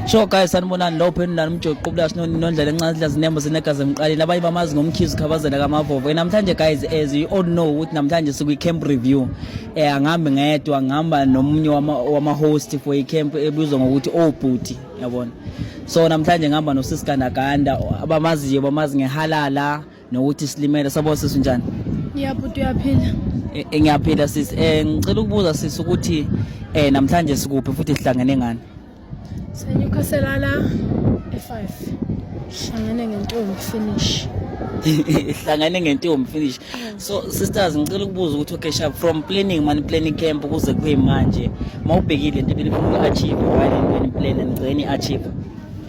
Sure guys sanibonani lo pheni nani umjoqo qubula sinoni nondlela encane sidla zinembo sinegazi emqaleni abanye bamazi ngomkhizi khabazela kamavovo namhlanje guys as you all know ukuthi namhlanje sikwi camp review eh angihambi ngedwa ngihamba nomunye wama, wama host for i camp ebizwa ngokuthi obhuti oh, yabona so namhlanje ngihamba nosisi Gandaganda abamaziyo bamazi ngehalala nokuthi silimele sabo sisi njani ngiyabhuti uyaphila e, e, ngiyaphila sisi um ngicela ukubuza sisi ukuthi um namhlanje sikuphi futhi sihlangene ngani senyukhaselala e-five hlangene ngentombi finish hlangane ngentombi finish so sisters ngicela ukubuza ukuthi okay sharp from planning mani planning camp ukuze kube manje mawubhekile into ebelifuna achieve why into eniplan nigcine achieve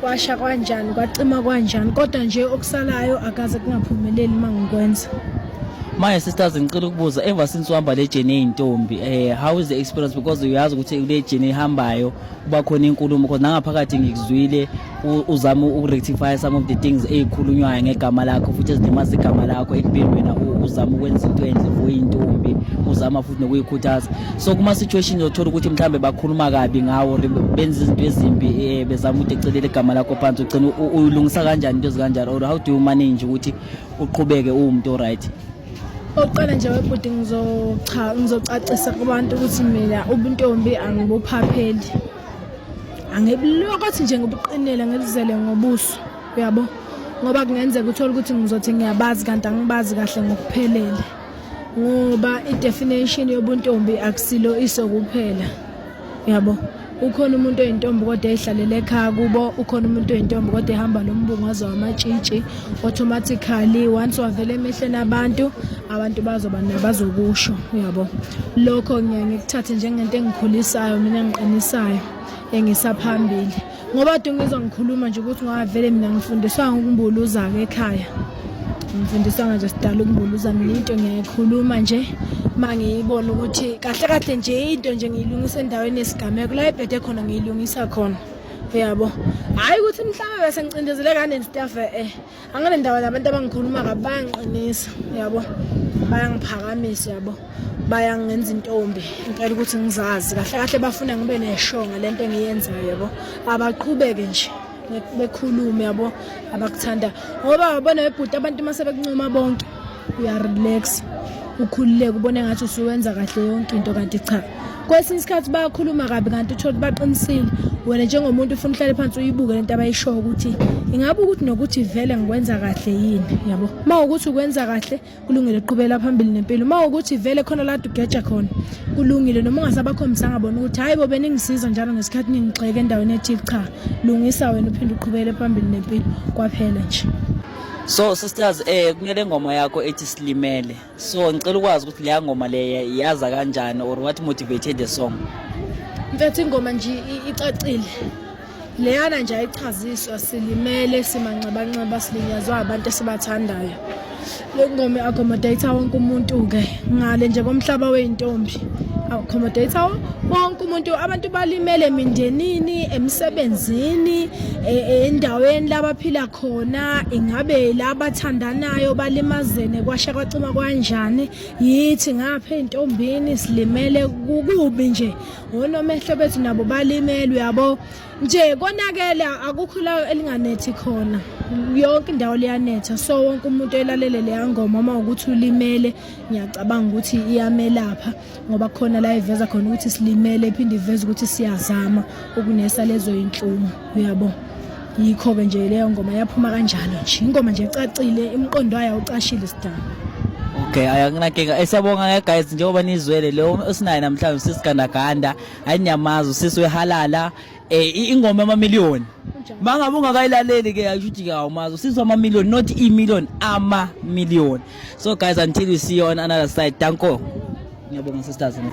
kwasha kwanjani kwacima kwanjani kodwa nje okusalayo akaze kungaphumeleli uma ngikwenza manje sisters ngicela ukubuza ever since uhamba le journey eyintombi eh how is the experience because uyazi ukuthi kule journey ihambayo kuba khona inkulumo because nangaphakathi ngikuzwile uzama ukurectify some of the things ezikhulunywayo ngegama lakho futhi ezilimaza igama lakho ekubeni wena uzama ukwenza into enhle for intombi uzama futhi nokuyikhuthaza so kuma situation yothola ukuthi mhlambe bakhuluma kabi ngawo benza izinto ezimbi eh, bezama ukuthi ecelele igama lakho phansi ugcina uyilungisa kanjani into ezikanjalo or how do you manage ukuthi uqhubeke uwumuntu right oqala nje webhuti ngizocha ngizocacisa kubantu ukuthi mina ubuntombi angibuphapheli angibulokothi nje ngobuqinile ngilizele ngobuso uyabo ngoba kungenzeka uthole ukuthi ngizothi ngiyabazi kanti angibazi kahle ngokuphelele ngoba i-definition yobuntombi akusilo iso kuphela yabo ukhona umuntu oyintombi kodwa ehlalela ekhaya kubo ukhona umuntu oyintombi kodwa ehamba nombungazo wamatshitshi automatically once wavela emehlweni abantu abantu bazoba nabazokusho uyabo lokho ngiye ngikuthathe njengento engikhulisayo mina ngiqinisayo engisaphambili ngoba kade ngizwa ngikhuluma nje ukuthi ngavele mina ngifundiswanga ukumbuluza-ke ekhaya ngifundiswanga nje sidala ukumbuluza mina into ngiyayikhuluma nje uma ngiyibona ukuthi kahle kahle nje into nje ngiyilungisa endaweni yesigameko la ibhede khona ngiyilungisa khona uyabo hhayi ukuthi mhlawumbe besengicindezeleka neni staff e-e angale ndawo nabantu abangikhuluma kabi bayangiqinisa yabo bayangiphakamisa yabo bayangenza intombi impela ukuthi ngizazi kahle kahle bafuna ngibe neshonga lento engiyenzayo yabo abaqhubeke nje bekhulume yabo abakuthanda ngoba babona bebhuti abantu uma sebekuncuma bonke uyarelax ukhululeke ubone ngathi usuwenza kahle yonke into kanti cha kwesinye isikhathi bayakhuluma kabi kanti uthole baqinisile wena njengomuntu ufuna uhlale phansi uyibuke lento abayishoyo ukuthi ingabe ukuthi nokuthi vele ngikwenza kahle yini yabo uma ukuthi ukwenza kahle kulungile uqhubela phambili nempilo uma ukuthi vele khona la ugeja khona kulungile noma ungasabakhombisanga bona ukuthi hayi bo beningisiza njalo ngesikhathi ningigxeke endaweni ethile cha lungisa wena uphinde uqhubele phambili nempilo kwaphela nje so sisters eh kunele ngoma yakho ethi silimele so ngicela ukwazi ukuthi leya ngoma leya yaza kanjani or what motivated the song mfethu ingoma nje icacile leyana nje ayichaziswa silimele simanxebanxeba silinyazwa abantu esibathandayo lokungoma i-accommodator wonke umuntu-ke ngale nje komhlaba wey'ntombi accommodator wonke umuntu abantu balimele emindenini emsebenzini e, e, endaweni labaphila khona ingabe labathandanayo balimazene kwasha kwacima kwanjani yithi ngapha entombini silimele kukubi nje ngonomehlo bethu nabo balimele uyabo nje konakele akukho la elinganethi khona yonke indawo liyanetha so wonke umuntu elalele leya ngoma uma ukuthi ulimele ngiyacabanga ukuthi iyamelapha ngoba khona la iveza khona ukuthi silimele iphinde iveza ukuthi siyazama ukunesa lezo inhlungu uyabo yikho-ke nje leyo ngoma yaphuma kanjalo nje ingoma nje ecacile imqondo wayo awucashile sidaba okay akunankinga esiyabonga eh, ke guys njengoba nizwele lo osinaye namhlanje sisigandaganda ayiniyamazi usisi wehalala Eh ingoma ama million. Mangabe ungakayilaleli ke ayishuthi ke awumazi usizwa ama million not i million ama million. So guys until we see you on another side. Danko. Ngiyabonga sisters.